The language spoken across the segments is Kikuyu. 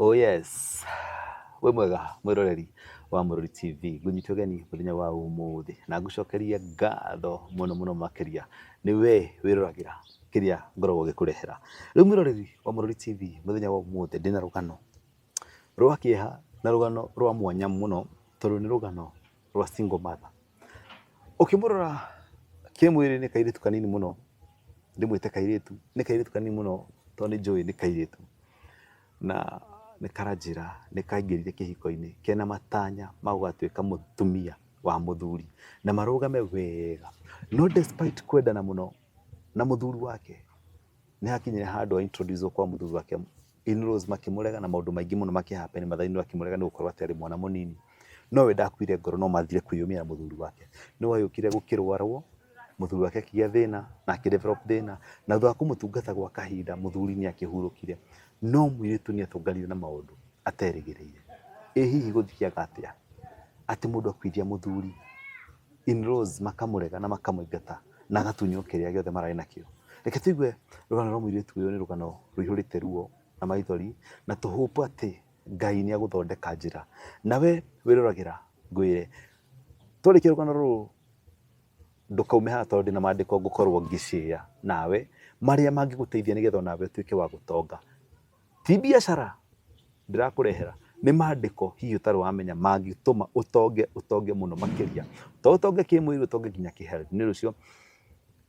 Oh yes. Wĩ mwega mwĩroreri wa Mũrũri TV, ngũnyitwo geni mũthenya wa ũmũthĩ na ngũcokerie ngatho mũno mũno makĩria nĩ we wĩroragĩra kĩrĩa ngoragwo gĩkũrehera. Rĩu mwĩroreri wa Mũrũri TV mũthenya wa ũmũthĩ ndĩna rũgano rwa kĩeha na rũgano rwa mwanya mũno tondũ nĩ rũgano rwa single mother ũkĩmũrora kĩmwĩrĩ nĩ kairĩtu kanini mũno ndĩmwĩte kairĩtu nĩ kairĩtu kanini mũno tondũ nĩ njũĩ nĩ kairĩtu na nĩ karanjĩra nĩ kaingĩrire kĩhiko-inĩ kena matanya ma gũgatuĩka mũtumia wa mũthuri na marũgame wega no despite kwendana mũno na mũthuri wake nĩ hakinyire handũ a introduce kwa mũthuri wake in-laws makĩmũrega na maũndũ maingĩ mũno makĩhappen mathainĩ akĩmũrega nĩ gũkorwo atĩ arĩ mwana mũnini no we ndakuire ngoro no mathire kwĩyumĩra mũthuri wake nĩ wayũkire gũkĩrwarwo mũthuri wake akĩgĩa thĩna na akĩ develop thĩna na thutha wa kũmũtungata gwa kahinda mũthuri nĩ akĩhurũkire no mũirĩtu nĩ atũnganire na maũndũ aterĩgĩrĩire ĩ hihi gũthiaga atĩa atĩ mũndũ akuithia mũthuri in-laws makamũrega na makamũingata na agatunywo kĩrĩa gĩothe mararĩ nakĩo reke tũigue rũgano rwa mũirĩtu ũyũ nĩ rũgano rũihũrĩte ruo na maithori na tũhũpu atĩ ngai nĩ agũthondeka njĩra nawe wĩroragĩra ngwĩre twarĩkia rũgano rũrũ ndũkaume haha tondũ ndĩna maandĩko ngũkorwo ngĩcĩa nawe marĩa mangĩgũteithia nĩgetha onawe ũtuĩke wa gũtonga Ti biacara ndĩrakũrehera, nĩ maandĩko hihi ũtarĩ wamenya mangĩtũma ũtonge, ũtonge mũno makĩria. To ũtonge kĩmwĩrĩ, ũtonge nginya kĩhealth. Nĩ ũndũ ũcio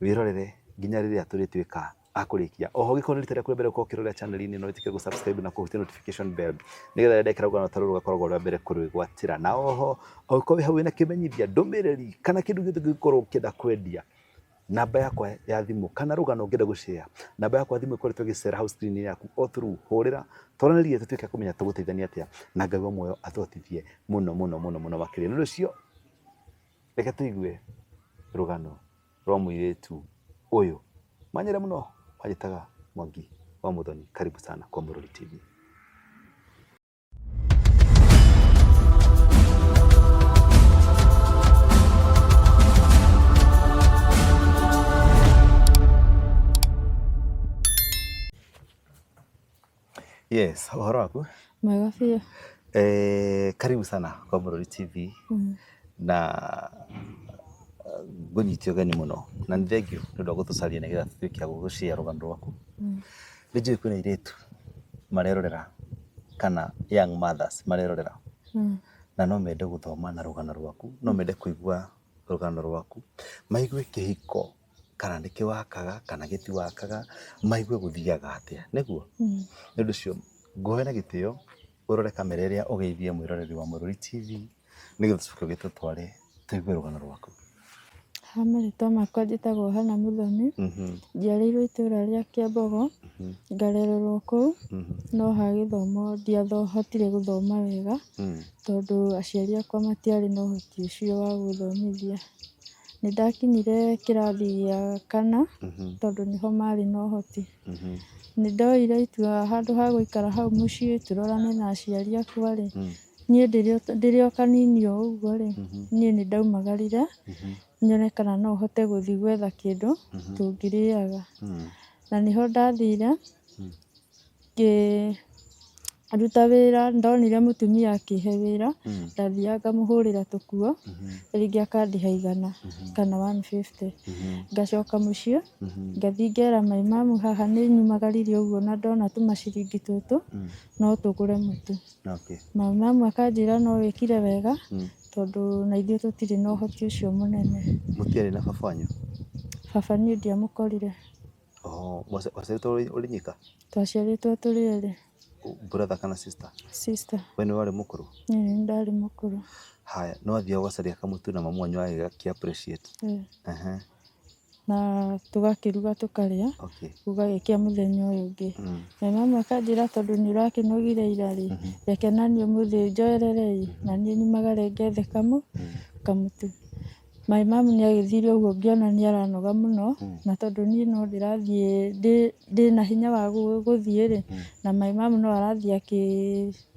wĩrorere nginya rĩrĩa tũrĩtuĩka a kũrĩkia. Oho ũngĩkorwo nĩ rita rĩaku rĩa mbere gũkorwo ũkĩrorera channel inĩ ĩno wĩtĩkĩre gũ subscribe na kũhutia notification bell nĩgetha rĩrĩa ndekĩra rũgano ta rũrũ rũgakoragwo rwa mbere kũrwĩgwatĩra. Na oho ũngĩkorwo wĩ hau wĩna kĩmenyithia, ndũmĩrĩri kana kĩndũ gĩothe ũngĩkorwo ũkĩenda kwendia, Namba yakwa ya thimũ kana rũgano ũngĩenda gũcare, namba yakwa ya thimũ ĩkoretwo ĩgĩcera hau screen-inĩ yaku o through. Hũrĩra twaranĩrie tũtuĩke a kũmenya tũgũteithania atĩa na Ngai wa muoyo atũhotithie mũno mũno mũno mũno makĩria. Nĩ ũndũ ũcio reke tũigue rũgano rwa mũirĩtu ũyũ. Manyĩre mũno manjĩtaga Mwangi wa Mũthoni. Karibu sana kwa Mũrũri TV. Yes, ũhoro waku? Mwega biũ. Eh, karibu sana kwa Mũrũri TV Mm. na eh, ngũnyiti ũgeni mũno na nĩ thengiũ nĩ ũndũ wa gũtũcaria nĩgetha tũtuĩke a gũgũcĩa rũgano rwaku Mm. Nĩ njũĩ kwĩna airĩtu marerorera kana young mothers marerorera Mm. na no mende gũthoma na rũgano rwaku no mende kũigua rũgano rwaku maigue kĩhiko kana nĩ kĩwakaga kana gĩtiwakaga maigue gũthiaga atĩa nĩguo Mm. nĩ ũndũ ũcio ngoe na gĩtĩo ũrore kamera ĩrĩa ũgeithie mwĩroreri wa mũrũri tv nĩgetha tũcoke gĩtũ tware tũigue rũgano rwaku Ha marĩtwa makwa njĩtagwo Hana Mũthoni, Mhm, njiarĩirwo itũũra rĩa Kĩambogo, mhm, ngarererwo kũu, mhm, no ha gĩthomo ndiahotire gũthoma wega, mhm. tondũ aciari akwa matiarĩ na ũhoti ũcio wa gũthomithia. Nĩ ndakinyire kĩrathi gĩa kana, Mhm, tondũ nĩho marĩ na ũhoti. mhm, Nĩ ndoire itua handũ ha gũikara hau mũciĩ tũrorane na aciari akwa-rĩ, mhm. Niĩ ndĩrĩ o kanini o ũguo rĩ, niĩ nĩ ndaumagarire nyone kana no hote gũthiĩ gwetha kĩndũ tũngĩrĩaga. Na nĩho ndathire ngĩruta wĩra, nĩ ndonire mũtumia akĩhe wĩra, ndathiaga ngamũhũrĩra tũkuo rĩngĩ akandĩha igana kana one fifty. Ngacoka mũciĩ ngathiĩ ngera maĩ mamu haha nĩ nyumagaririe ũguo na ndona tũmaciringi tũtũ no tũgũre mũtu. Okay. Na mama akanjĩra no wĩkire wega Mm. tondũ na ithuĩ tũtirĩ na ũhoti ũcio mũnene. Mũtiarĩ na baba wanyu? Baba niĩ ndiamũkorire. Oh, mwaci- mwaciarĩtwo ũrĩ- ũrĩ nyika? Twaciarĩtwo tũrĩ erĩ. Brother kana sister? Sister. We nĩ warĩ mũkũrũ? Niĩ nĩ ndarĩ mũkũrũ. Haya, nĩ wathiaga ũgacaria kamũtu na mamu wanyu agagĩga- appreciate? Eh. Ehe. na tũgakĩruga tũkarĩa, Okay. gũgagĩkĩa mũthenya ũyũ ũngĩ. Mm. Na mama akanjĩra tondũ nĩ ũrakĩnogire ira rĩ, reke naniĩ ũmũthĩ njoerere ĩ, na niĩ nyumagare ngethe kamũ, kamũtu. My mom nĩ agĩthire ũguo ngĩona nĩ aranoga mũno, na tondũ niĩ no ndĩrathiĩ ndĩ ndĩna hinya wa gũ- gũthiĩ rĩ, na my mom no arathiĩ akĩ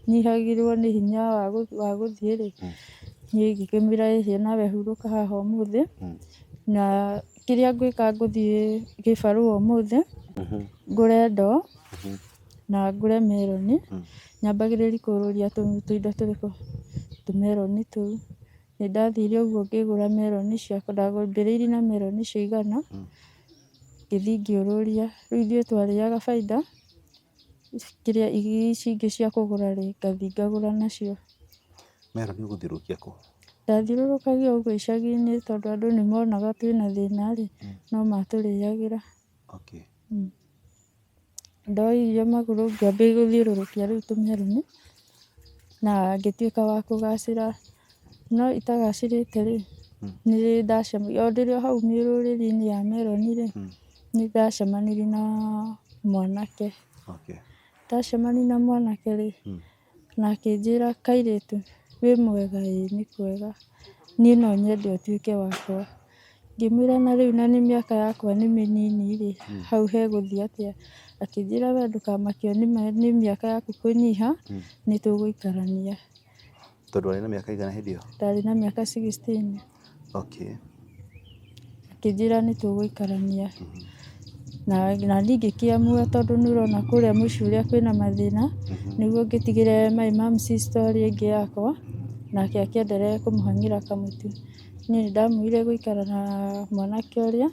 Nyihagĩrwo nĩ hinya wa gũthiĩ rĩ, niĩ ngĩkĩmwĩra ĩ hihi nawe hurũka haha ũmũthĩ, na kĩrĩa ngwĩka ngũthiĩ gĩbarũ ũmũthĩ, ngũre ndoo, na ngũre meroni, nyambagĩrĩri kũũrũria tũindo tũrĩkũ, tũmeroni tũu. Nĩ ndathire ũguo ngĩgũra meroni ciakwa, ndambĩrĩirie na meroni cia igana, ngĩthiĩ ngĩũrũria. Rĩu ithuĩ twarĩaga bainda, kĩrĩa irio ici ingĩ cia kũgũra rĩ, ngathi ngagũra nacio. Mera nĩ ũgũthiũrũrũkia kũ? Ndathiũrũrũkagia ũguo icagi-inĩ tondũ andũ nĩ monaga twĩna thĩna rĩ, no matũrĩagĩra. Okay. Ndoya irio magũrũ ngĩambia gũthiũrũrũkia rĩu tũmeroni. na ngĩtuĩka wa kũgacĩra, no itagacĩrĩte rĩ, nĩ rĩrĩa ndacemania, o ndĩ o hau mĩrũrĩrĩ-inĩ ya meroni rĩ, nĩ ndacemanirie na mwanake, ndacemania na mwanake rĩ, na akĩnjĩra kairĩtu wĩ mwega ĩĩ nĩ kwega, niĩ no nyende ũtuĩke wakwa. Ngĩmwĩra na rĩu na nĩ mĩaka yakwa nĩ mĩnini rĩ, hau he gũthiĩ atĩa? Akĩnjĩra we ndũkamakio nĩ ma- nĩ mĩaka yaku kũnyiha, nĩ tũgũikarania. Tondũ warĩ na mĩaka ĩigana hĩndĩ ĩyo? Ndarĩ na mĩaka sixteen. Okay. Akĩnjĩra nĩ tũgũikarania. Na na niĩ ngĩkĩamua tondũ nĩ ũrona kũrĩa mũciĩ ũrĩa kwĩna mathĩna, nĩguo ngĩtigĩre my mum's story ĩngĩ yakwa, nake akĩenderea kũmũhang'ĩra kamũtu. Niĩ nĩ ndamwĩrire gũikara na mwanake ũrĩa,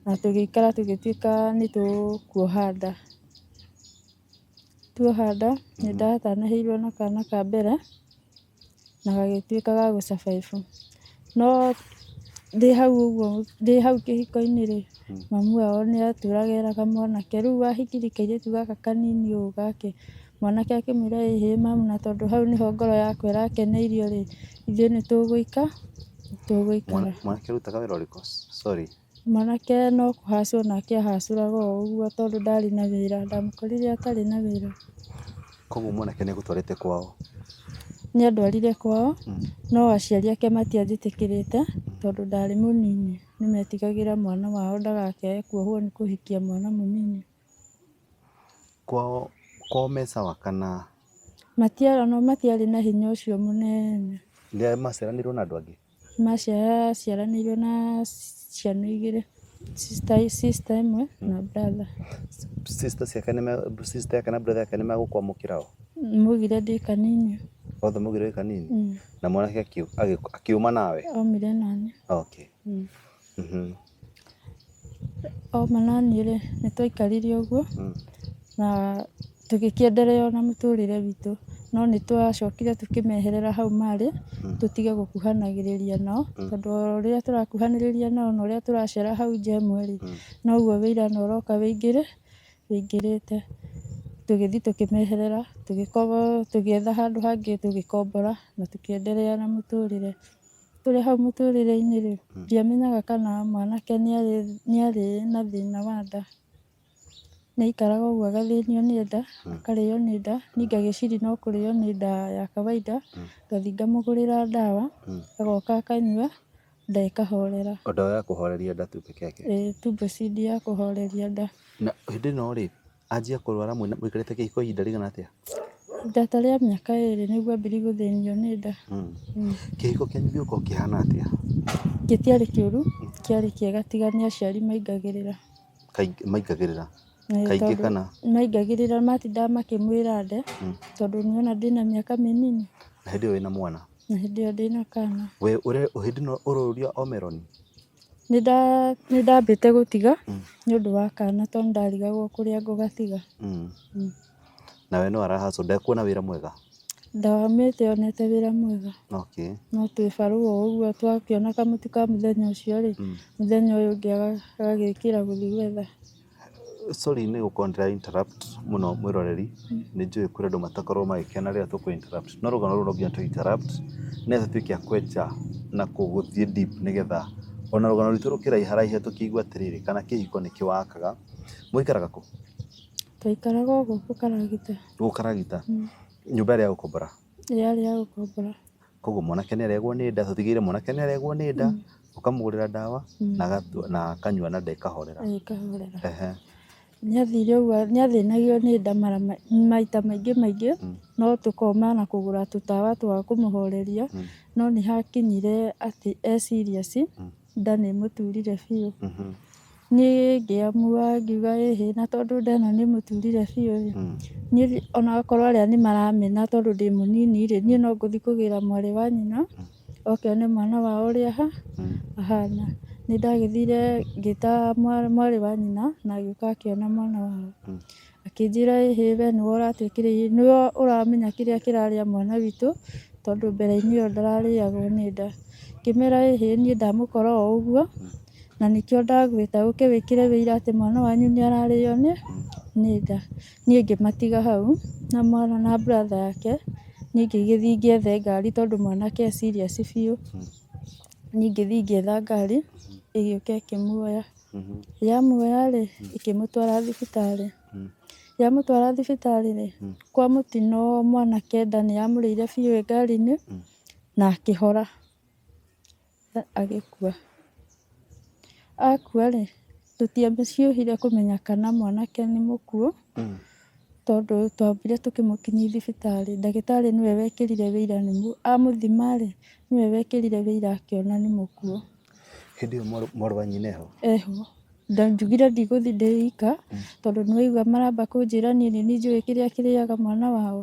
na tũgĩikara tũgĩtuĩka nĩ tũkuoha nda. Tuoha nda, nĩ ndatanahĩirwo na kana ka mbere, na gagĩtuĩka ga gũ survive. No ndĩ hau ũguo, ndĩ hau kĩhiko-inĩ rĩ, mamu wao nĩ atũraga eraga mwanake, rĩu wahikire kairĩtu gaka kanini ũũ gake, Mwanake akĩmwĩra, Ĩ hĩ mamu, na tondũ hau nĩho ngoro yakwa ĩrakeneirio rĩ, ithuĩ nĩ tũgũika, nĩ tũgũikara. Mwanake arutaga wĩra ũrĩkũ? Sorry. Mwanake no kũhacwo nake ahacũraga o ũguo tondũ ndarĩ na wĩra. Ndamũkorire atarĩ na wĩra. Koguo mwanake nĩ agũtwarĩte kwao? Nĩ andwarire kwao, no aciari ake matianjĩtĩkĩrĩte tondũ ndarĩ mũnini. Nĩ metigagĩra mwana wao ndagakĩae kuohwo nĩ kũhikia mwana mũnini. Kwao me sawa kana? Matiarĩ ona matiarĩ na hinya ũcio mũnene. Nĩmaciaranĩirwo na andũ angĩ? Maciaranĩirwo na ciana igĩrĩ, sister ĩmwe na brother. Sister ciake nĩ, sister yake na brother yake nĩmegũkwamũkĩra ho? Maugire ndĩ kanini. Othe maugire wĩ kanini? Na mwanake akiuma nawe? Aumire naniĩ. Okay. Oma naniĩ rĩ, nĩ twaikarire ũguo na tũgĩkĩenderea ona mũtũrĩre witũ. No nĩ twacokire tũkĩmeherera hau marĩ, tũtige gũkuhanagĩrĩria nao, tondũ o ũrĩa tũrakuhanĩrĩria nao na ũrĩa tũracera hau nja ĩmwe rĩ, noguo ũira no ũroka ũingĩre ũingĩrĩte. Tũgĩthi tũkĩmeherera, tũgĩetha handũ hangĩ tũgĩkombora na tũkĩenderea na mũtũrĩre. Tũrĩ hau mũtũrĩre-inĩ-rĩ, ndiamenyaga kana mwanake nĩarĩ na thĩna wa nda. Nĩaikaraga ũguo agathĩnio nĩ nda, akarĩo nĩ nda, niĩ ngagĩciria no kũrĩo nĩ nda ya kawaida, ngathiĩ ngamũgũrĩra ndawa, agoka akanyua, nda ĩkahorera. O ndawa ya kũhoreria nda tu peke yake? Ĩĩ, tu breast ya kũhoreria nda. Na hĩndĩ ĩno-rĩ, Anjia kũrwara mwĩna mũikarĩte kĩhiko ihinda rĩigana atĩa? Ihinda ta rĩa mĩaka ĩrĩ nĩguo ambĩrĩirie gũthĩnio nĩ nda. Kĩhiko kĩanyu gĩgũkorwo kĩhana atĩa? Gĩtiarĩ kĩũru, kĩarĩ kĩega tiga nĩ aciari maingagĩrĩra. Kaingĩ maingagĩrĩra? Eh, Kaingĩ tondũ kana? Maingagĩrĩra matindaga makĩmwĩra nde tondũ nĩona ndĩna mĩaka mĩnini Na hĩndĩ ĩyo wĩna mwana? na hĩndĩ ĩyo ndĩna kana. We ũre hĩndĩ ĩno ũroria o meroni? Nĩndambĩte gũtiga nĩ ũndũ wa kana tondũ nĩndarigagwo kũrĩa ngũgatiga. Nawe nĩwe wara hustle ndekuona wĩra mwega? Ndaumĩte onete wĩra mwega no twĩ barũa ũguo twakĩona kamũtu ka mũthenya ũcio rĩ, mũthenya ũyũ ũngĩ agagĩkĩra gũthiĩ gwetha. Sorry nĩ gũkorwo ndĩra interrupt mũno mwĩroreri, nĩ njũĩ kũrĩ andũ matakoragwo magĩkena rĩrĩa tũkũ interrupt. No rũgano rũrũ no nginya tũ interrupt nĩgetha tũtuĩke a kwenja na gũthiĩ deep nĩgetha ona rũgano rwitũ rũkĩraiharaihe tũkĩigue atĩrĩrĩ, kana kĩhiko nĩ kĩwakaga. Mũikaraga kũ? Twaikaraga o gũkũ Karagita. Gũkũ Karagita? Nyũmba yarĩ ya gũkombora? Yarĩ ya gũkombora. Koguo mwanake nĩ aregwo nĩ nda, tũtigĩrĩre mwanake nĩ aregwo nĩ nda, ũkamũgũrĩra ndawa na agatua na akanyua na nda ĩkahorera. Eh, ĩkahorera. Ehe. Nĩ athire ũguo, nĩ athĩnagio nĩ nda mara ma- maita maingĩ maingĩ, no tũkoma na kũgũra tũtawa twa kũmũhoreria, no nĩ hakinyire atĩ e serious, Nda nĩ ĩmũturire biũ. Mhm. Niĩ ngĩamua ngiuga ĩhĩ na tondũ nda ĩno nĩ ĩmũturire biũ rĩ, Mm. niĩ thi- ona akorwo arĩa nĩ maramena tondũ ndĩ mũnini rĩ, niĩ no ngũthiĩ kũgĩra mwarĩ wa nyina oke one mwana wao ũrĩa aha Mm. ahana. Nĩ ndagĩthire ngĩta mwa- mwarĩ wa nyina na agĩũka akĩona mwana wao. Mm. Akĩnjĩra ĩhĩ we nĩwe ũratwĩkĩra irio, nĩwe ũramenya kĩrĩa kĩrarĩa mwana witũ, tondũ mbere-inĩ ĩyo ndararĩagwo nĩ nda. Ngĩmera ĩhĩ niĩ ndamũkora o ũguo, na nĩkĩo ndagwĩta ũke wĩkĩre ũira atĩ mwana wanyu nĩ ararĩo nĩ nĩ nda. Niĩ ngĩmatiga hau na mwana na brother yake, niĩ ngĩgĩthiĩ ngĩethe ngari tondũ mwanake e serious biũ. Niĩ ngĩthiĩ ngĩetha ngari ĩgĩũka ĩkĩmuoya. Yamuoya rĩ, ĩkĩmũtwara thibitarĩ. Yamũtwara thibitarĩ rĩ, kwa mũtino mwanake nda nĩ yamũrĩire biũ ĩ ngari-inĩ na akĩhora, agĩkua. Akua rĩ, tũtiaciohire kũmenya kana mwanake nĩ mũkuũ tondũ twambire tũkĩmũkinyia thibitarĩ. Ndagĩtarĩ nĩwe wekĩrire ũira, amũthima rĩ, nĩwe wekĩrire ũira akĩona nĩ mũkuũ. Hĩndĩ ĩyo mwarĩ wa nyina eho? Eho. Ndanjugire ndigũthiĩ ndĩ ika tondũ nĩ waigua maramba kũnjĩra niĩ nĩ niĩ njũĩ kĩrĩa kĩrĩaga mwana wao.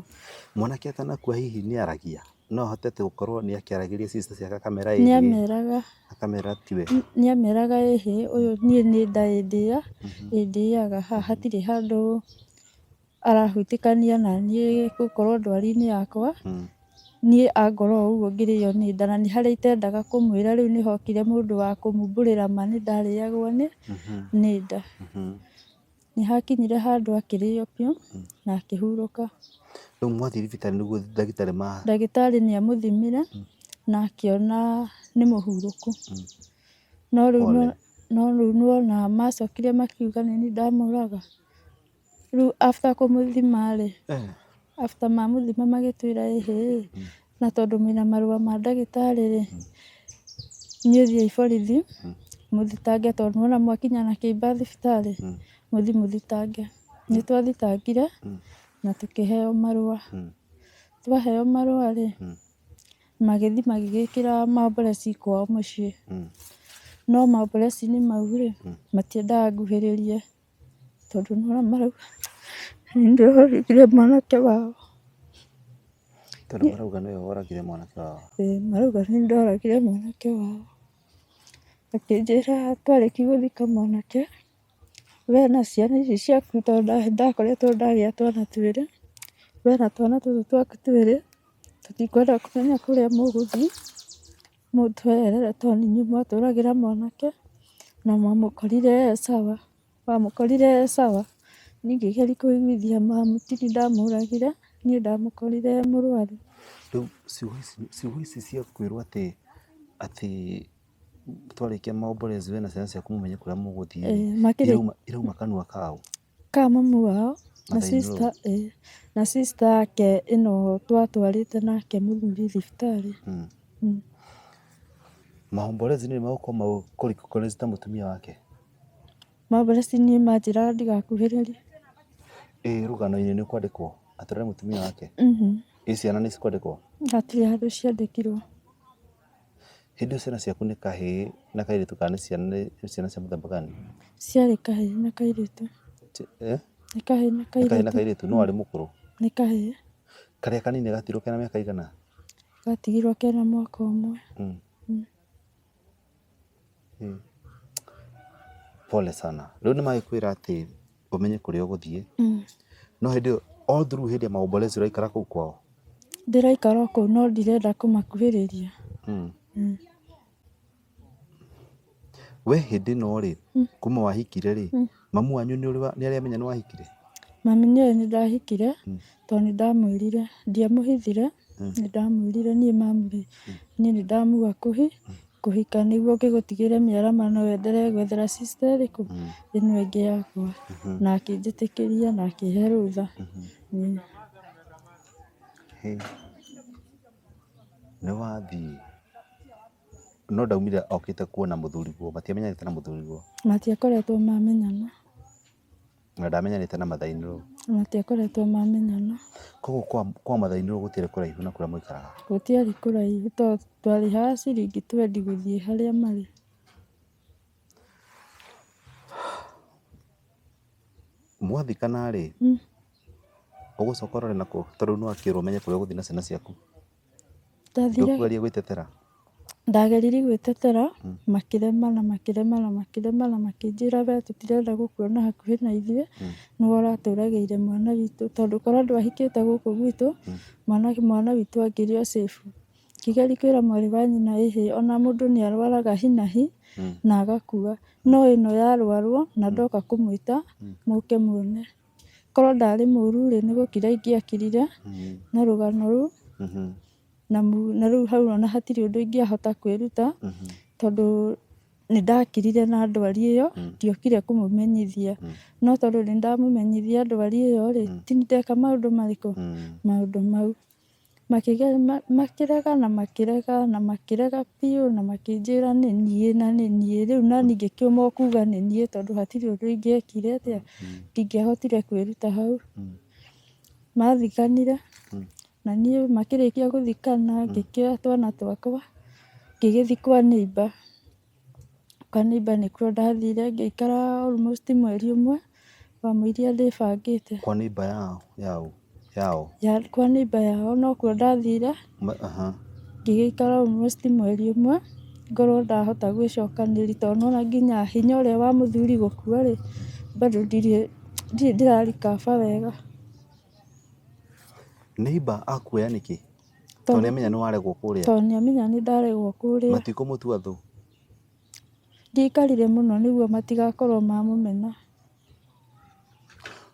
Mwanake atanakua hihi nĩ aragia? No ahote atĩ gũkorwo nĩ akĩaragĩria sister ciake akamera ĩhĩ? Nĩ ameraga. Akamera tiwe? Nĩ ameraga ĩhĩ ũyũ niĩ nĩ nda ĩndĩa, ĩndĩaga haha hatirĩ handũ arahutĩkania naniĩ gũkorwo ndwari-inĩ yakwa, niĩ angora o ũguo ngĩrĩo nĩ nda, na nĩ harĩa itendaga kũmwĩra rĩu nĩ hokire mũndũ wa kũmumbũrĩra ma nĩ ndarĩagwo nĩ nĩ nda. Nĩ hakinyire handũ akĩrĩo biũ na akĩhurũka. Rĩu mwathiĩ thibitarĩ nĩguo ndagĩtarĩ ma. Ndagĩtarĩ nĩ amũthimire na akĩona nĩ mũhurũku. No rĩu no rĩu nĩ wona macokire makiuga nĩ niĩ ndamũraga. Rĩu after kũmũthima rĩ, after mamũthima magĩtwĩra ĩhĩ na tondũ mwĩna marũa ma ndagĩtarĩ rĩ, inyuĩ thiĩi borithi mũthitange tondũ nĩwona mwakinya na kĩimba thibitarĩ, mũthiĩ mũthitange. Nĩ twathitangire na tũkĩheo marũa. Twaheo marũa rĩ, magĩthiĩ magĩgĩkĩra mambureci kwao mũciĩ. No mambureci-inĩ mau rĩ, matiendaga nguhĩrĩrie. Tondũ nĩ ũrona marauga nĩ niĩ ndoragire mwanake wao. Tondũ marauga nĩwe woragire mwanake wao. Ĩĩ marauga nĩ niĩ ndoragire mwanake wao. Akĩnjĩra twarĩki gũthika mwanake, we na ciana ici ciaku tondũ ndakoretwo ndagĩa twana twĩrĩ, we na twana tũtũ twaku twĩrĩ tũtikwenda kũmenya kũrĩa mũgũthiĩ. Mũtũerere tondũ nĩ inyuĩ mwatũragĩra mwanake na mwamũkorire e sawa. Wamũkorire e sawa niĩ ngĩgeria kũiguithia mamu ti niĩ ndamũragire, niĩ ndamũkorire e mũrwaru. Rĩu ciugo ici cia kwĩrwo atĩ, atĩ twarĩkia maomboreco we na ciana ciaku mũmenye kũrĩa mũgũthiĩ rĩ, irauma kanua kaũ? Ka mami wao na sister eh, na sister yake ĩno twatwarĩte nake mũthuri thibitarĩ. Mm. Mm. Mahombolezi nĩ magũkorwo mau kũrikokorezi ta mũtumia wake. Mahombolezi nĩ manjĩra ndigakuhĩrĩrie. Ĩ rũgano-inĩ nĩ kwandĩkwo atũrĩre mũtumia wake. Mhm. Ĩ ciana nĩ cikwandĩkwo. Hatirĩ handũ ciandĩkirwo. Hĩndĩ ĩyo ciana ciaku nĩ kahĩĩ na kairĩtu kana nĩ ciana nĩ ciana cia mũthemba gani? Ciarĩ kahĩĩ na kairĩtu. Ci- eh? Nĩ kahĩĩ na Nĩ kahĩĩ na kairĩtu. kairĩtu no arĩ mũkũrũ. Nĩ kahĩĩ. Karĩa kanini gatirwo kena mĩaka igana? Gatigirwo kena mwaka ũmwe. Mm. Pole sana. Rĩu nĩ magĩkwĩra atĩ ũmenye kũrĩa ũgũthiĩ. No hĩndĩ ĩyo all through hĩndĩ ya maombolezo ũraikara kũu kwao? Ndĩraikara o kũu no ndirenda kũmakuhĩrĩria. Wee hĩndĩ ĩno rĩ, kuma wahikire rĩ, Mamu wanyu nĩ ũrĩ nĩ arĩ amenya nĩ wahikire? Mami nĩ ũrĩ nĩ ndahikire mm. tondũ nĩ ndamwĩrire ndiamũhithire mm. nĩ ndamwĩrire niĩ mamurĩ mm. niĩ nĩ ndamuga kũhi mm. kũhika nĩguo ngĩgũtigĩre mĩarama no wendere gwethera sister ĩrĩkũ mm. ĩno ĩngĩ yakwa mm -hmm. na akĩnjĩtĩkĩria na akĩhe rũtha mm -hmm. mm. hey. nĩ wathiĩ No ndaumire okĩte kuona mũthuriguo, matiamenyanĩte na mũthuriguo. Matiakoretwo mamenyana. Na ndamenyanĩte na mathainĩrũ. Matiakoretwo mamenyana. Koguo kwa, kwa mathainĩrũ gũtiarĩ kũraihu na kũrĩa mũikaraga. Gũtiarĩ kũraihu to twarĩhaga ciringi twendi gũthiĩ harĩa marĩ. Mwathikana-rĩ, ũgũcoka ũrore nakũ tondũ nĩwakĩrwo ũmenye kũrĩa ũgũthiĩ na ciana ciaku. Ndathire- Ndũkũgeria gwĩtetera. Ndageririe gwĩtetera, makĩrema na makĩrema na makĩrema na makĩnjĩra we tũtirenda gũkuona hakuhĩ na ithuĩ, nĩwe ũratũragĩire mwana witũ. Tondũ korwo ndwahikĩte gũkũ gwitũ, mwana mwana witũ angĩrĩ o safe. Ngĩgeria kwĩra mwarĩ wa nyina ĩhĩ, ona mũndũ nĩ arwaraga hi na hi, na agakua. No ĩno yarwarwo, na ndoka kũmwĩta, mũke muone. Korwo ndarĩ mũru rĩ, nĩ gũkira ingĩakirire na rũgano rũu, na na rĩu hau ona hatirĩ ũndũ ingĩahota kwĩruta, tondũ nĩ ndakirire na ndwari ĩyo, ndiokire kũmũmenyithia. No tondũ nĩ ndamũmenyithi ndwari ĩyo rĩ, ti ndeka maũndũ marĩkũ? Maũndũ mau. Makĩrega na makĩrega na makĩrega biũ na makĩnjĩra nĩ niĩ na nĩ niĩ. Rĩu naniĩ ngĩkĩũmwo kuga nĩ niĩ tondũ hatirĩ ũndũ ingĩekire atĩa, ndingĩahotire kwĩruta hau. Mathikanire na niĩ makĩrĩkia gũthikana ngĩkĩoya twana twakwa ngĩgĩthiĩ kwa neighbour. Kanitha nĩkuo ndathire ngĩikara almost mweri ũmwe, wamũiria ndĩbangĩte. Kwa neighbor yao yao yao. Ya kwa neighbor yao nokuo ndathire. Ma, aha. Ngĩgĩikara almost mweri ũmwe ngorwo ndahota gwĩcokanĩria tondũ nĩwona nginya hinya ũrĩa wa mũthuri gũkua rĩ, bado ndirĩ ndirĩ ndĩra recover wega. Neighbor akuoya nĩkĩ? Tondũ nĩamenya nĩwaregwo kũrĩa. Tondũ nĩamenya nĩndaregwo kũrĩa. Matikũmũtua thũ. Ndiaikarire mũno nĩguo matigakorwo mamũmena.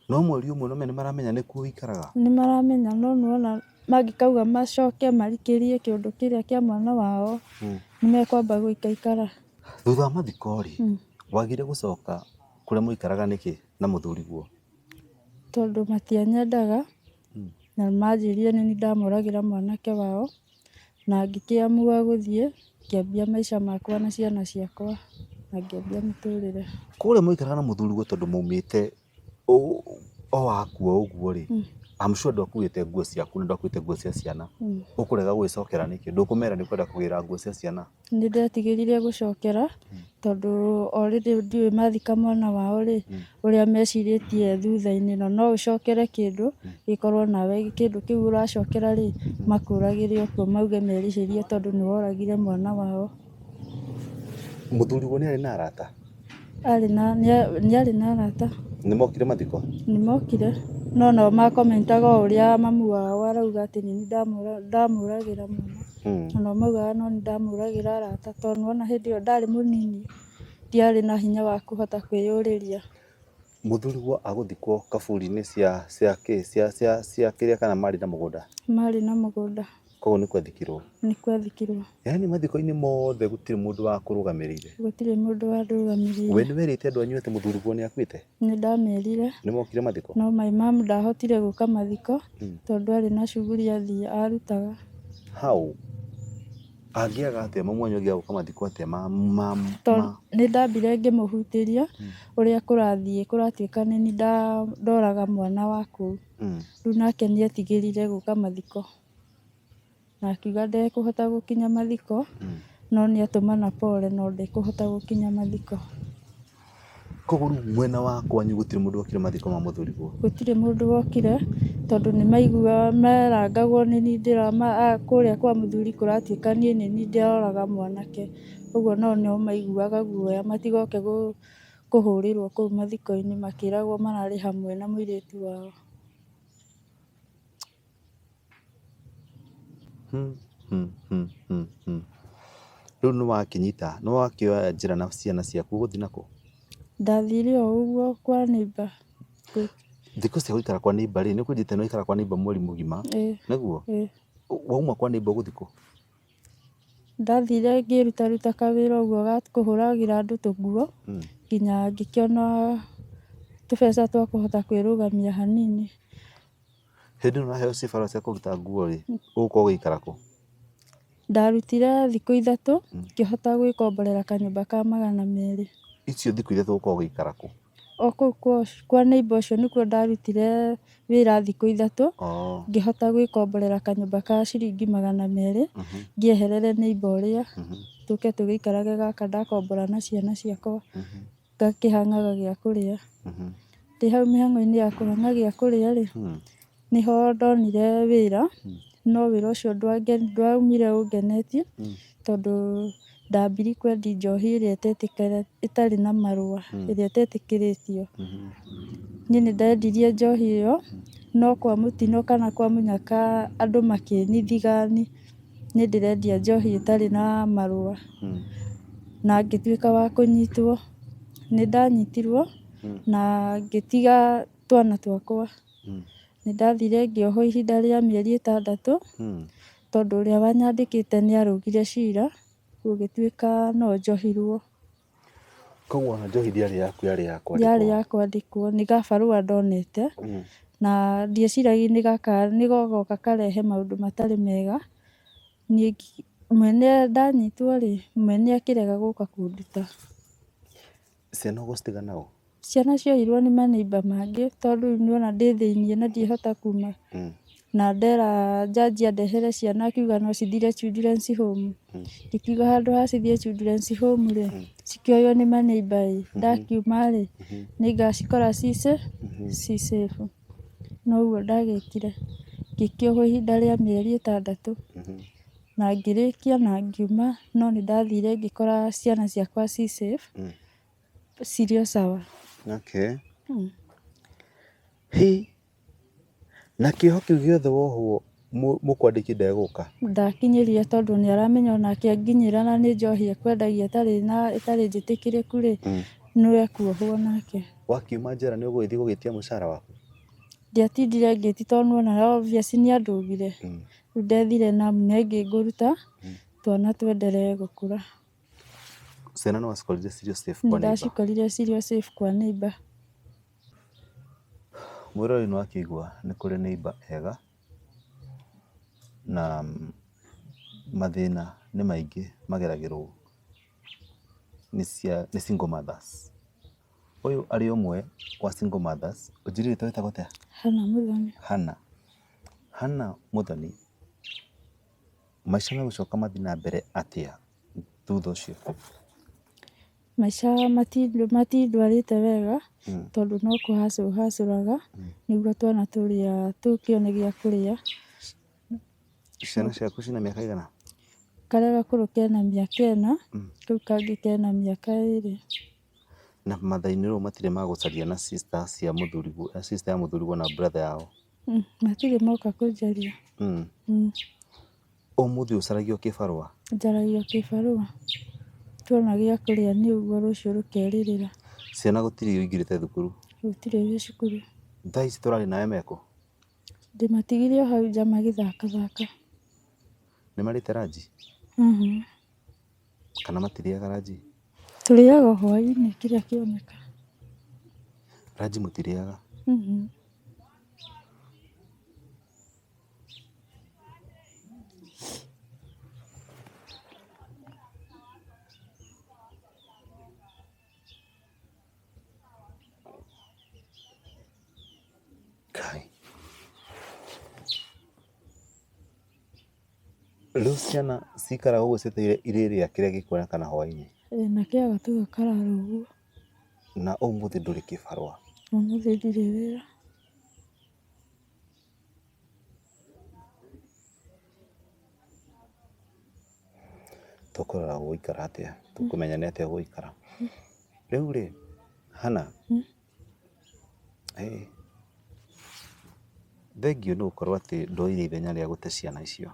No mweri ũmwe nĩũmenya nĩmaramenya nĩkuo ũikaraga. Nĩmaramenya no nĩwona mangĩkauga macoke marikĩrie kĩũndũ kĩrĩa kĩa mwana wao, nĩmekwamba gũikaikara. Thutha wa mathiko-rĩ, wagire gũcoka kũrĩa mwaikaraga nĩkĩ na mũthuriguo? Tondũ matianyendaga. Na manjĩrire nĩ niĩ ndamoragĩra mwanake wao, na ngĩkĩamua gũthiĩ, ngĩambia maica makwa na ciana ciakwa, na ngĩambia mũtũrĩre. Kũrĩa mwaikaraga na mũthuriguo tondũ maumĩte o akua ũguo rĩ, I'm sure ndwakuĩte nguo ciaku na ndwakuĩte nguo cia ciana, ũkũrega gũgĩcokera nĩkĩ? Ndũkũmera nĩ ũkwenda kũgĩra nguo cia ciana? Nĩ ndetigĩrire gũcokera tondũ already ndiũĩ mathika mwana wao rĩ, ũrĩa mecirĩtie thutha-inĩ na no ũcokere kĩndũ gĩkorwo nawe kĩndũ kĩu ũracokera rĩ makũragĩre o kuo mauge merĩhĩrie tondũ nĩ woragire mwana wao. Mũthuriguo nĩ arĩ na arata? Arĩ na, nĩa- nĩarĩ na arata nĩ mokire mathiko nĩ mokire no nao makomentaga o ũrĩa mamu wao arauga atĩ nĩ niĩ ndamũra- ndamũragĩra mwana Mm. na nao maugaga no nĩ ndamũragĩra arata tondũ nĩwona hĩndĩ ĩyo ndarĩ mũnini ndiarĩ na hinya wa kũhota kwĩyũrĩria mũthuriguo agũthikwo kaburi-inĩ cia cia kĩ cia cia cia kĩrĩa kana marĩ na mũgũnda marĩ na mũgũnda Koguo nĩ kwethikirwo. Nĩ kwethikirwo. Yaani mathiko-inĩ mothe gũtirĩ mũndũ wa kũrũgamĩrĩire. Gũtirĩ mũndũ wa rũgamĩrĩire. We nĩ werĩte andũ anyu atĩ mũthuriguo nĩ akuĩte? Nĩ ndamerire. Nĩ mokire mathiko? No my mom ndahotire gũka mathiko hmm. tondũ arĩ na shughuli athiĩ arutaga. How? angĩaga atĩa mamu wanyu angĩaga gũka mathiko atĩa nĩ ndambire ngĩmũhutĩria hmm. ũrĩa kũrathiĩ kũratuĩka nĩ ndoraga mwana wa kũu hmm. rĩu nake nĩ etigĩrire gũka mathiko Na akiuga ndekũhota gũkinya mathiko, no nĩ atũmana pole no ndekũhota gũkinya mathiko. Koguo rĩu mwena wa kwanyu gũtirĩ mũndũ wokire mathiko ma mũthuriguo? Gũtirĩ mũndũ wokire tondũ nĩ maiguaga marangagwo nĩ niĩ ndĩrama kũrĩa kwa mũthuri kũratuĩka niĩ nĩ niĩ ndĩroraga mwanake. Ũguo nao nĩ maiguaga guoya matigoke kũhũrĩrwo kũu mathiko-inĩ makĩragwo mararĩ hamwe na mũirĩtu wao. Rĩu nĩ wakĩnyita, nĩ wakĩoya njĩra na ciana ciaku ũgũthiĩ nakũ? Ndathire o ũguo kwa neighbor. Thikũ cia gũikara kwa neighbor rĩ, nĩ ũkũnjĩte nĩ waikara kwa neighbor mweri mũgima, nĩguo? Wauma kwa neighbor ũgũthiĩ kũ? Ndathire ngĩrutaruta kawĩra ũguo ga kũhũragĩra andũ tũnguo, nginya ngĩkĩona tũbeca twa kũhota kwĩrũgamia hanini. Hĩndĩ ĩno ũraheo cibarũa cia kũruta nguo rĩ, ũgũkorwo ũgĩikara kũ? Ndarutire thikũ ithatũ, ngĩhota gwĩkomborera kanyũmba ka magana merĩ. Icio thikũ ithatũ ũgũkorwo ũgĩikara kũ? O kũu kwa ũcio, kwa neighbour ũcio nĩkuo ndarutire wĩra thikũ ithatũ, Oo. ngĩhota gwĩkomborera kanyũmba ka ciringi magana merĩ, ngĩeherere neighbour ũrĩa, tũke tũgĩikarage gaka ndakombora na ciana ciakwa. Ngakĩhang'aga gĩa kũrĩa. Ndĩ hau mĩhang'o-inĩ ya kũhang'a gĩa kũrĩa rĩ, nĩho ndonire wĩra, no wĩra ũcio ndwaumire ũngenetie, tondũ ndambire kwendia njohi ĩrĩa ĩtarĩ na marũa, ĩrĩa ĩtetĩkĩrĩtio. Niĩ nĩ ndendirie njohi ĩyo, no kwa mũtino kana kwa mũnyaka andũ makĩnithiga. Niĩ ndĩrendia njohi ĩtarĩ na marũa na ngĩtuĩka wa kũnyitwo. Nĩ ndanyitirwo na ngĩtiga twana twakwa. Nĩ ndathire ngĩohwo ihinda rĩa mĩeri ĩtandatũ tondũ ũrĩa wanyandĩkĩte nĩ arũgire cira gũgĩtuĩka no njohirwo. Koguo ona njohi ndĩarĩ yaku yarĩ ya kwandĩkwo? Yarĩ ya kwandĩkwo, nĩ gabarũa ndonete, na ndieciragia nĩ gaka nĩ gogoka karehe maũndũ matarĩ mega, niĩ mwene ndanyitwo-rĩ, mwene akĩrega gũka kũnduta. Ciana ũgũcitiga naũ? Ciana cioirwo nĩ manĩimba mangĩ tondũ rĩu nĩwona ndĩ thĩiniĩ na ndihota kuma. Na ndera njanji andehere ciana akiuga no cithire children's home. Ngĩkiuga handũ ha cithiĩ children's home rĩ, cikĩoywo nĩ manĩimba ĩ, ndakiuma rĩ, nĩ ngacikora ci safe, ci safe. Na ũguo ndagĩkire. Ngĩkĩohwo ihinda rĩa mĩeri ĩtandatũ. Na ngĩrĩkia na ngiuma, no nĩ ndathire ngĩkora ciana ciakwa ci safe, Cirio sawa. Okay. Hmm. Hi. Na kĩoho kĩu gĩothe wohwo mũkwandĩki ndegũka ndakinyĩria tondũ nĩ aramenya ona akĩnginyĩra na nĩ njohi ekwendagia ĩtarĩ na ĩtarĩ njĩtĩkĩrĩku rĩ hmm. nĩ ekuohwo nake wakiuma njera nĩ ũgũgĩthiĩ gũgĩtia mũcara waku ndiatindire ngĩti tondũ nuona obvious nĩ andũgire hmm. rĩu ndethire na nĩ ngĩngũruta hmm. twana twenderee gũkũra Ciana no wacikorire cirio safe kwa neighbor. Ndacikorire cirio safe kwa neighbor. Mwĩrori nĩ wakĩigua nĩ kũrĩ neighbor ega na mathĩna nĩ maingĩ mageragĩrwo nĩ cia, nĩ single mothers. Ũyũ arĩ ũmwe wa single mothers, ũnjĩrie rĩtwa rĩtagwo atĩa? Hannah Muthoni. Hannah. Hannah Muthoni Maica megũcoka mathiĩ na mbere atĩa thutha ũcio? Maica matindwarĩte wega tondũ no kũhacũra hacũraga nĩguo twana tũrĩa tũkĩone gĩa kũrĩa. Ciana ciaku ciĩna mĩaka ĩigana? Karĩa gakũrũ kena mĩaka ĩna, kau kangĩ kena mĩaka ĩrĩ. Na matha-inĩ rĩu matirĩ ma gũcaria na sister cia mũthuriguo, sister ya mũthuriguo na brother yao? Mm, matirĩ moka kũnjaria. Mm. Mm, Ũmũthĩ ũcaragio kĩbarũa. njaragio kĩbarũa. Tuona gĩa kũrĩa nĩ ũguo rũciũ rũkerirĩra. Ciana gũtirĩ ũingĩrĩte thukuru. Gũtirĩ ũrĩ cukuru. Thaa ici tũrarĩ nawe meko. Ndĩmatigire o hau nja magĩthakathaka. Nĩ marĩte ranji. Mhm. Kana matirĩaga ranji? Tũrĩaga o hwainĩ kĩrĩa kĩoneka. Ranji mũtirĩaga? Rĩu ciana cikaraga ũguo cietereire irĩrĩa kĩrĩa gĩkuona kana hwainĩ. Ĩĩ na kĩa gatuga karara ũguo. Na ũmũthĩ ndũrĩ kĩbarũa. Ũmũthĩ ndirĩ wĩra. Tũkũrora gũgũikara atĩa? Tũkũmenya nĩ atĩa gũgũikara? Rĩu rĩ, Hannah, Thengiũ nĩ gũkorwo atĩ ndoire ithenya rĩa gũte ciana icio.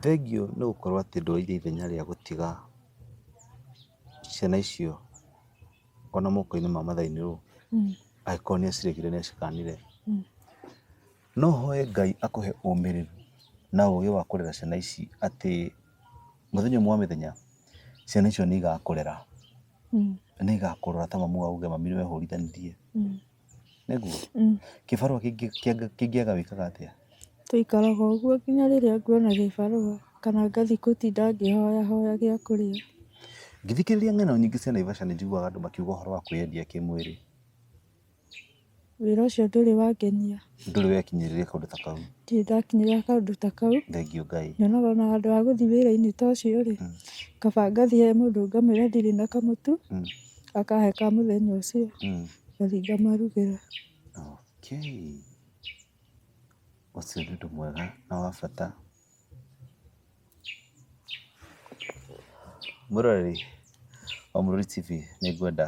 Thengiũ nĩ gũkorwo atĩ ndoire ithenya rĩa gũtiga ciana icio ona moko-inĩ ma mathai-inĩ ũũ, angĩkorwo nĩ aciregire nĩ acikanire. No hoe Ngai akũhe ũmĩrĩru na ũgĩ wa kũrera ciana ici atĩ mũthenya ũmwe wa mĩthenya ciana icio nĩ igakũrera, nĩ igakũrora ta mamu wao uge mami nĩwe hũrithanĩtie. Nĩguo? Kĩbarũa kĩngĩaga wĩkaga atĩa? Tũikaraga ũguo nginya rĩrĩa nguona gĩbarũa kana ngathiĩ gũtinda ngĩhoyahoya gĩa kũrĩa. Ngĩthikĩrĩria ng'ano nyingĩ cia Naivasha nĩ njiguaga andũ makiuga ũhoro wa kwĩyendia kĩmwĩrĩ. Wĩra ũcio ndũrĩ wangenia. Ndũrĩ wekinyĩrĩria kaũndũ ta kau. Ndirĩ ndakinyĩrĩria kaũndũ ta kau. Thengiũ Ngai. Nyonaga ona handũ ha gũthiĩ wĩra-inĩ ta ũcio rĩ, mm. kaba ngathiĩ he mũndũ ngamwĩra ndirĩ na kamũtu, mm. akahe ka mũthenya ũcio, mm. ngathiĩ ngamarugĩra. Okay. Ũcio nĩ ũndũ mwega na wa bata. Mũroreri wa Mũrũri TV nĩ ngwenda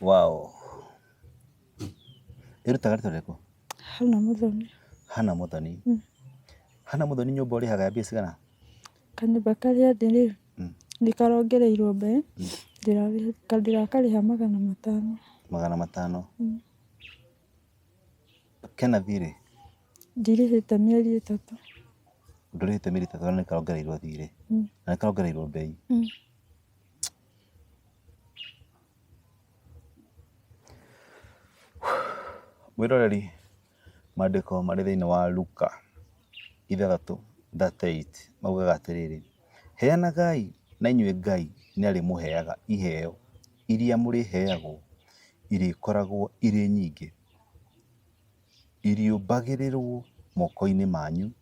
Waũ. Ĩrutaga rita rĩrĩkũ? Hana Mũthoni. Hana Mũthoni. Mm. Hana Mũthoni nyũmba ũrĩhaga mbia cigana? Kanyũmba karĩa ndĩ rĩ, mm. nĩ karongereirwo mbe, mm. ndĩrakarĩha magana matano. Magana matano. Mm. Kena thirĩ? Ndirĩhĩte mĩeri ĩtatũ. Ndũrĩhĩte mĩeri ĩtatũ na nĩ karongereirwo thirĩ. Mm. Na nĩ karongereirwo mbei. Mm. Mwĩroreri, mandĩko marĩ thĩiniĩ wa Luka ithathatũ thate ĩiti maugaga atĩrĩrĩ, Heanagai na inyuĩ Ngai nĩ arĩmũheaga iheo iria mũrĩheagwo irĩkoragwo irĩ nyingĩ, irĩũmbagĩrĩrwo moko-inĩ manyu.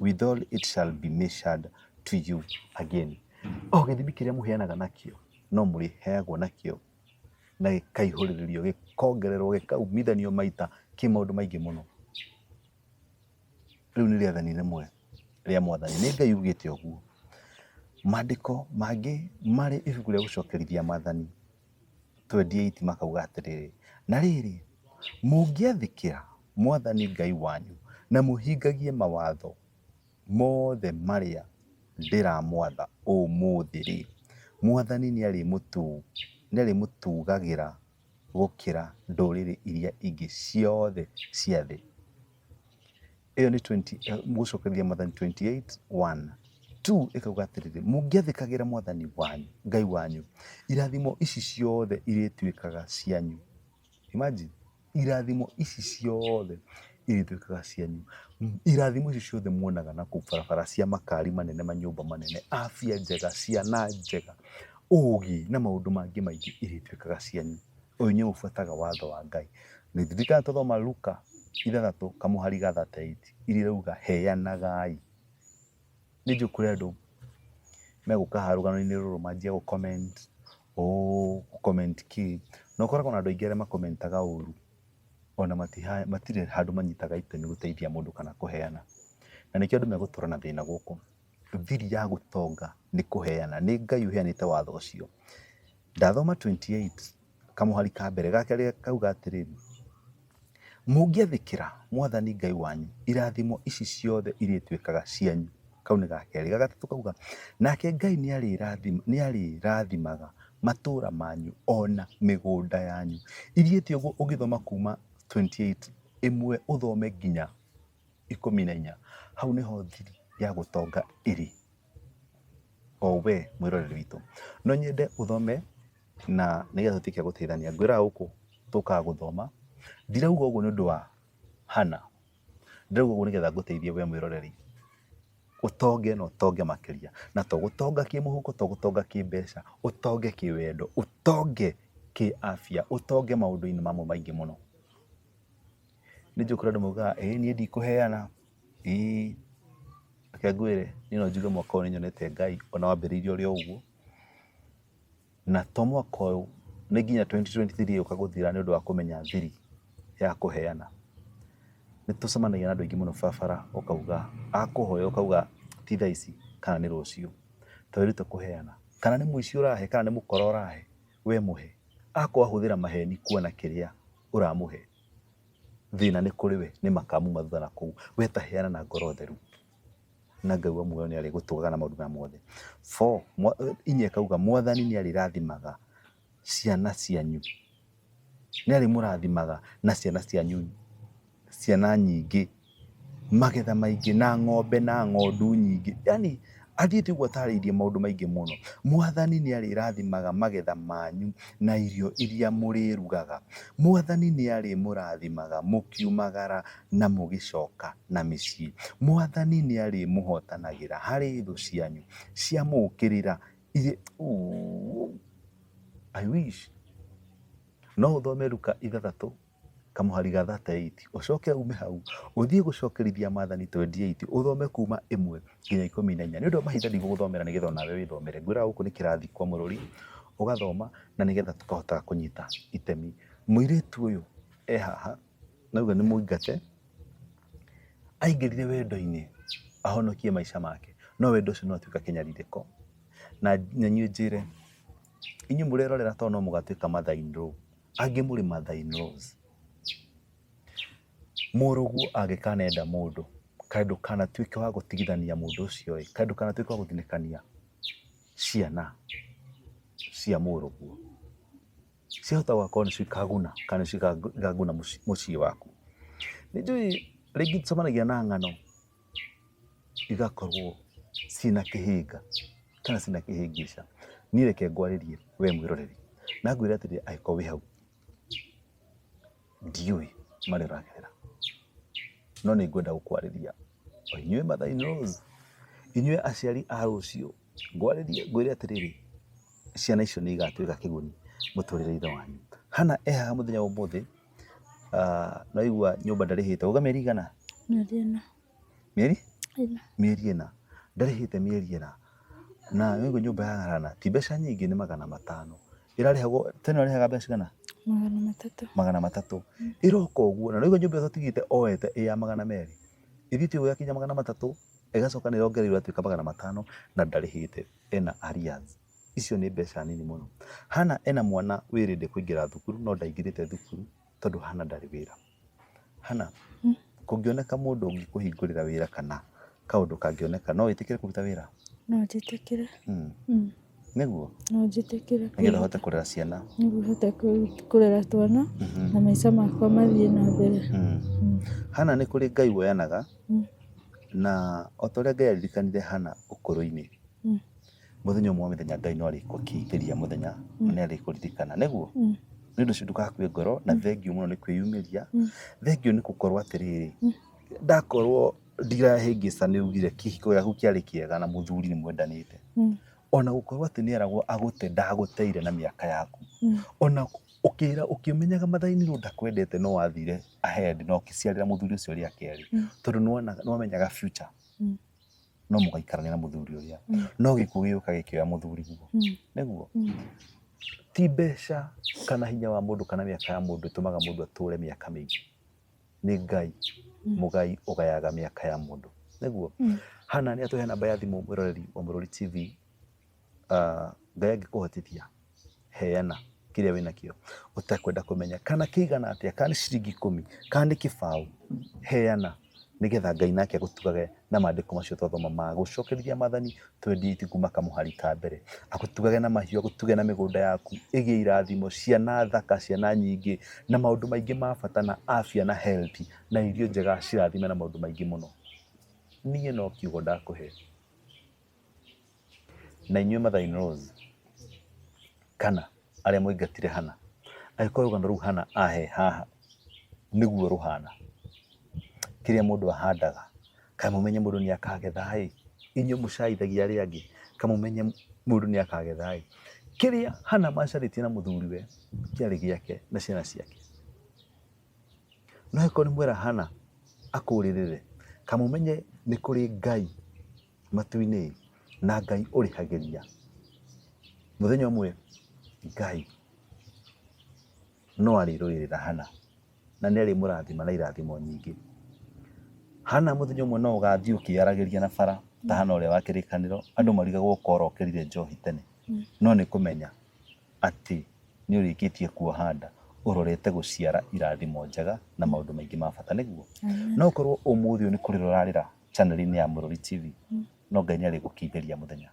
withal it shall be measured to you again. O gĩthimi kĩrĩa mũheanaga nakĩo no mũrĩheagwo nakĩo na gĩkaihũrĩrĩrio gĩkongererwo gĩkaumithanio maita kĩ maũndũ maingĩ mũno. Rĩu nĩ rĩathani rĩmwe rĩa mwathani, nĩ Ngai ugĩte ũguo. Maandĩko mangĩ marĩ ibuku rĩa gũcokerithia maathani. 28 makauga atĩrĩrĩ, na rĩrĩ, mũngĩathĩkĩra Mwathani Ngai wanyu na mũhingagie mawatho mothe marĩa ndĩramwatha ũmũthĩ-rĩ, Mwathani nĩarĩmũtugagĩra gũkĩra ndũrĩrĩ iria ingĩ ciothe cia thĩ. ĩyo nĩ 20 gũcokereria mwathani 28 1 2 ĩkauga atĩrĩrĩ mũngĩathĩkagĩra mwathani wanyu ngai wanyu irathimo ici ciothe irĩtuĩkaga cianyu imagine irathimo ici ciothe irĩtuĩkaga cianyu M- irathimo ici ciothe muonaga na kũu barabara cia makari manene manyũmba manene afya njega ciana njega ũũgĩ na maũndũ mangĩ maingĩ irĩtuĩkaga cianyu Ũyũ nĩ ũbuataga watho wa Ngai. Nĩtũrikana tũthoma Luka ithathatũ kamũhari ga thate ĩiti iria irauga heanagai. Nĩ njũĩ kũrĩ andũ megũka haha rũgano-inĩ rũrũ manjie gũ comment ũũ gũ comment kĩĩ. Na ũkoraga na andũ aingĩ arĩa ma comment aga ũru ona matirĩ handũ manyitaga itemi gũteithia mũndũ kana kũheana. Na nĩkĩo andũ megũtũra na thĩna gũkũ. Thiri ya gũtonga nĩ kũheana. Nĩ Ngai ũheanĩte watho ũcio. Ndathoma 28 kamũhari ka mbere ga kerĩ kauga atĩrĩrĩ, mũngĩathĩkĩra mwathani Ngai wanyu, irathimo ici ciothe irĩtuĩkaga cianyu. Kau nĩ ga kerĩ. Ga gatatũ kauga, nake Ngai nĩarĩrathimaga matũũra manyu ona mĩgũnda yanyu. Ithiĩte ũguo ũgĩthoma kuma 28 ĩmwe ũthome nginya ikũmi na inya hau nĩho thiri ya gũtonga ĩrĩ o we mwĩroreri witũ no nyende ũthome na nĩgetha ũtuĩke gũteithania ngwĩraga gũkũ tũkaga gũthoma ndirauga ũguo nĩ ũndũ wa hana ndirauga ũguo nĩgetha ngũteithie we mwĩroreri ũtonge na ũtonge makĩria na to gũtonga kĩmũhuko to gũtonga kĩmbeca ũtonge kĩwendo ũtonge kĩafya ũtonge maũndũ-inĩ mamwe maingĩ mũno. Nĩ njũĩ kũrĩ andũ maugaga ĩĩ niĩ ndikũheana, ĩĩ. Reke ngwĩre niĩ no njuge mwaka ũyũ nĩ nyonete Ngai ona wambĩrĩirie ũrĩ o ũguo, na to mwaka ũyũ, nĩ nginya twenty twenty three ĩgĩũka gũthira nĩ ũndũ wa kũmenya thiri ya kũheana. Nĩ tũcemanagia na andũ aingĩ mũno barabara ũkauga, akũhoya ũkauga ti thaa ici kana nĩ rũciũ. Ta wĩrute kũheana, kana nĩ mũici ũrahe kana nĩ mũkora ũrahe, we mũhe. Akorwo ahũthĩra maheni kuona kĩrĩa ũramũhe. thĩna nĩ kũrĩ we, nĩ makamu mathutha na kũu. We ta heana na ngoro theru na Ngai wa muoyo nĩ arĩgũtũgaga na maũndũ maya mothe. Four, inya ĩkauga mwathani nĩ arĩrathimaga ciana cianyu, nĩ arĩmũrathimaga na ciana cianyu, ciana nyingĩ. magetha maingĩ na ng'ombe na ng'ondu nyingĩ. Yaani athiĩte ũguo atarĩirie maũndũ maingĩ mũno. Mwathani nĩ arĩrathimaga magetha manyu na irio iria mũrĩrugaga. Mwathani nĩ arĩmũrathimaga mũkiumagara na mũgĩcoka na mĩciĩ. Mwathani nĩ arĩmũhotanagĩra harĩ thũ cianyu ciamũũkĩrĩra irĩ ũũ I wish no ũthome Luka ithathatũ. kamũhari ga 38 ũcoke ume hau ũthiĩ gũcokerithia maathani 28 ũthome kuma ĩmwe nginya ikũmi na inya nĩ ũndũ wa mahinda ndigũgũthomera nĩgetha onawe wĩthomere ngwĩraga gũkũ nĩ kĩrathi kwa mũrũri ũgathoma na nĩgetha tũkahota kũnyita itemi mũirĩtu ũyũ e haha nauga nĩ mũingate aingĩrire wendo-inĩ ahonokie maica make no wendo ũcio no atuĩka kĩnyarirĩko na nyanyue njĩre inyuĩ mũrerorera to no mũgatuĩka mathainĩ rũu Angĩ mũrĩ mother in laws. Mũrũguo angĩkanenda mũndũ, kaĩ ndũkanatuĩke wa gũtigithania mũndũ ũcio ĩ, kaĩ ndũkanatuĩke wa gũthinĩkania ciana cia mũrũguo. Ciahota gũgakorwo nĩcio ikaguna kana nĩcio ikaguna mũciĩ waku. Nĩ njũĩ rĩngĩ nĩ tũcemanagia na ng'ano. igakorwo ciĩna kĩhĩnga kana ciĩna kĩhĩngĩca. Niĩ reke ngwarĩrie we mwĩroreri na ngwĩre atĩrĩrĩ angĩkorwo wĩ hau, ndiũĩ marĩa ũragerera no nĩ ngwenda gũkwarĩria. Inyuĩ mother in laws, inyuĩ aciari a rũciũ, ngwarĩrie ngwĩre atĩrĩrĩ, ciana icio nĩ igatuĩka kĩguni mũtũrĩre-inĩ wanyu. Hannah e haha mũthenya wa ũmũthĩ. Ah, naigua nyũmba ndarĩhĩte uga mĩeri igana mĩeri ĩna mĩeri ĩna mĩeri ĩna ndarĩhĩte mĩeri ĩna na naigua nyũmba ya garana ti mbeca nyingĩ nĩ magana matano ĩrarĩhagwo tena ĩrarĩhaga mbeca cigana magana matatũ magana matatũ ĩroka ũguo na naigua nyũmba ĩyo tigĩte oete ĩ ya magana merĩ ĩthiĩte ũguo yakinya magana matatũ ĩgacoka nĩ ĩrongereirwo ĩgatuĩka magana matano na ndarĩhĩte ena arrears Icio nĩ mbeca nini mũno. Hana ena mwana wĩ ready kũingĩra thukuru no ndaingĩrĩte thukuru tondũ Hana ndarĩ wĩra. Hana, kũngĩoneka mũndũ ũngĩkũhingũrĩra wĩra kana kaũndũ kangĩoneka no wĩtĩkĩre kũruta wĩra? No njĩtĩkĩre. Mm. Mm. Nĩguo? No njĩtĩkĩre. Nĩgetha hote kũrera ciana. Nĩguo hote kũrera twana mm -hmm. na maica makwa mathiĩ na mbere. Mm. Mm. Hana nĩ kũrĩ Ngai woyanaga mm. na o ta ũrĩa Ngai aririkanire Hana ũkũrũ-inĩ mm. Mũthenya ũmwe mĩthenya Ngai no arĩkũkĩithĩria mũthenya na nĩ arĩkũririkana nĩguo Mm. nĩ ũndũ ũcio ndũgakue ngoro na thengiũ mũno nĩ kwĩyumĩria Mm. thengiũ nĩ gũkorwo atĩrĩrĩ ndakorwo ndirahĩngĩca nĩ ugire kĩhiko gĩaku kĩarĩ kĩega na mũthuri nĩ mwendanĩte Mm. ona gũkorwo atĩ nĩ eragwo agũte ndagũteire na mĩaka yaku Mm. ona ũkĩra ũkĩmenyaga mathaini rwo ndakwendete no wathire ahead na ũkĩciarĩra mũthuri ũcio rĩa kerĩ Mm. tondũ nĩwona- nĩwamenyaga future Mm. no mũgaikarania na mũthuri ũrĩa Mm. no gĩkuũ gĩgĩũka gĩkĩoya mũthuri guo Mm. nĩguo Mm. ti mbeca kana hinya wa mũndũ kana mĩaka ya mũndũ ĩtũmaga mũndũ atũũre mĩaka mĩingĩ nĩ ngai Mm. mũgai ũgayaga mĩaka ya mũndũ nĩguo Mm. hana nĩ atũhe namba ya thimũ mwĩroreri wa mũrori tv ah, Ngai angĩkũhotithia heana kĩrĩa wĩ nakĩo ũtekwenda kũmenya kana kĩigana atĩa kana nĩ ciringi ikũmi kana nĩ kĩbaũ heana nĩgetha Ngai nake agũtugage na maandĩko macio twathoma ma gũcokerithia mathani twendi itiku makamũhari ta mbere agũtugage na mahiũ agũtuge na mĩgũnda yaku ĩgĩe irathimo ciana thaka ciana nyingĩ na maũndũ maingĩ ma bata na afya na health na irio njega cirathime na maũndũ maingĩ mũno niĩ no kiugo ndakũhe Na inyuĩ mother in laws kana arĩa mwaingatire hana angĩkorwo rũgano rũu hana ahe haha nĩguo rũhana kĩrĩa mũndũ ahandaga kaĩ mũmenye mũndũ nĩ akagetha ĩ inyuĩ mũcaithagia arĩa angĩ kaĩ mũmenye mũndũ nĩ akagetha ĩ kĩrĩa hana macarĩtie na mũthuriwe kĩarĩ gĩake na ciana ciake no angĩkorwo nĩ mwera hana akũrĩrĩre kaĩ mũmenye nĩ kũrĩ ngai matu-inĩ ĩ, na Ngai ũrĩhagĩria. Mũthenya ũmwe Ngai no arĩrũĩrĩra Hana na nĩ arĩmũrathima na irathimo nyingĩ. Hana mũthenya ũmwe no ũgathiĩ ũkĩyaragĩria na bara ta Hana ũrĩa wa kĩrĩkanĩro, andũ marigagwo ũkora ũkĩrire njohi tene, no nĩ kũmenya atĩ nĩ ũrĩkĩtie kuoha nda ũrorete gũciara irathimo njega na maũndũ maingĩ ma bata, nĩguo? No ũkorwo ũmũthĩ ũyũ nĩ kũrĩra ũrarĩra chaneli-inĩ ya Mũrũri TV no Ngai nĩ arĩgũkindĩria mũthenya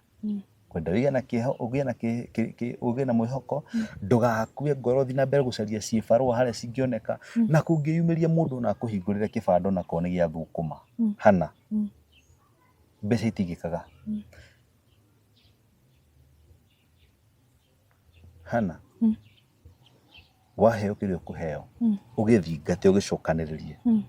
kwenda ũgĩe na kĩeho ũgĩe na kĩ- kĩ- kĩ- ũgĩe na mwĩhoko ndũgakue ngoro thiĩ na mbere gũcaria ciĩbarũa harĩa cingĩoneka na kũngĩyumĩria mũndũ na akũhingũrĩre kĩbanda onakorwo nĩ gĩa thũkũma Mm. hana Mm. mbeca itigĩkaga Hana mm. waheo kĩrĩa ũkũheo mm. ũgĩthingate ũgĩcokanĩrĩrie mm.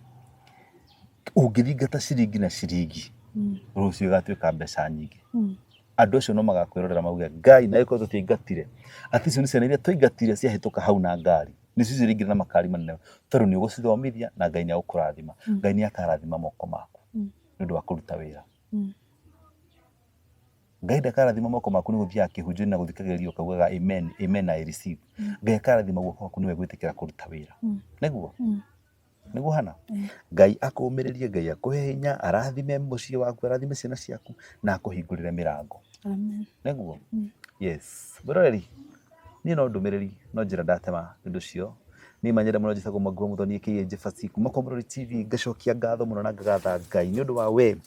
ũngĩthingata ciringi na ciringi mm. rũciũ ĩgatuĩka mbeca nyingĩ mm. andũ acio no magakwĩrorera mauge ngai na ĩkorwo tũtiaingatire atĩ icio nĩ ciana iria twaingatire ciahĩtũka hau na ngari nĩ cicio rĩngĩ na makari manene tondũ nĩ ũgũcithomithia na ngai nĩ agũkũrathima mm. ngai nĩ akarathima moko maku mm. nĩ ũndũ wa kũruta wĩra mm. Ngai ndakarathima moko maku nĩ gũthiaga kĩhunjio na gũthikagĩrĩria ũkaugaga amen amen I receive. Mm. Ngai akarathima guoko gwaku nĩwe gwĩtĩkĩra kũruta wĩra. Mm. Nĩguo? Mm. Nĩguo hana? Mm. Ngai akũmĩrĩrie, Ngai akũhe hinya, arathime mũciĩ waku, arathime ciana ciaku na akũhingũrĩre mĩrango. Amen. Nĩguo? Mm. Yes. Mwĩroreri, niĩ no ndũmĩrĩri, no njĩra ndatema nĩ cio nä manyenda må no njätagwo mwanguo må thoniä kä ä njä baci kuma kwa må rori tv ngacokia ngatho må no na ngagatha ngai nä å ndå wa we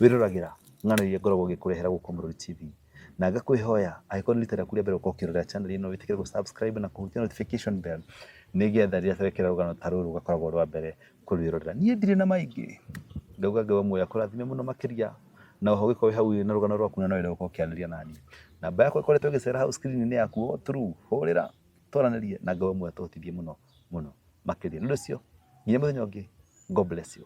wä roragä ra ng'ano iria ngoragwo ngĩkũrehera gũkũ Mũrũri TV na ngakwĩhoya angĩkorwo nĩ rita rĩaku rĩa mbere gũkorwo ũkĩrorera channel ĩno wĩtĩkĩre gũ subscribe na kũhutia notification bell nĩgetha rĩrĩa tũrekera rũgano ta rũrũ ũgakoragwo rwa mbere kũrwĩrorera niĩ ndirĩ na maingĩ ngauga ngai wa muoyo akũrathime mũno makĩria na oho gĩkorwo wĩ hau ĩ na rũgano rwaku na no wende gũkorwo ũkĩanĩria nani namba yakwa ĩkoretwo ĩgĩcera hau screen-inĩ yaku o through hũrĩra twaranĩrie na ngai wa muoyo atũhotithie mũno mũno makĩria nĩ ũndũ ũcio nginya mũthenya ũngĩ god bless you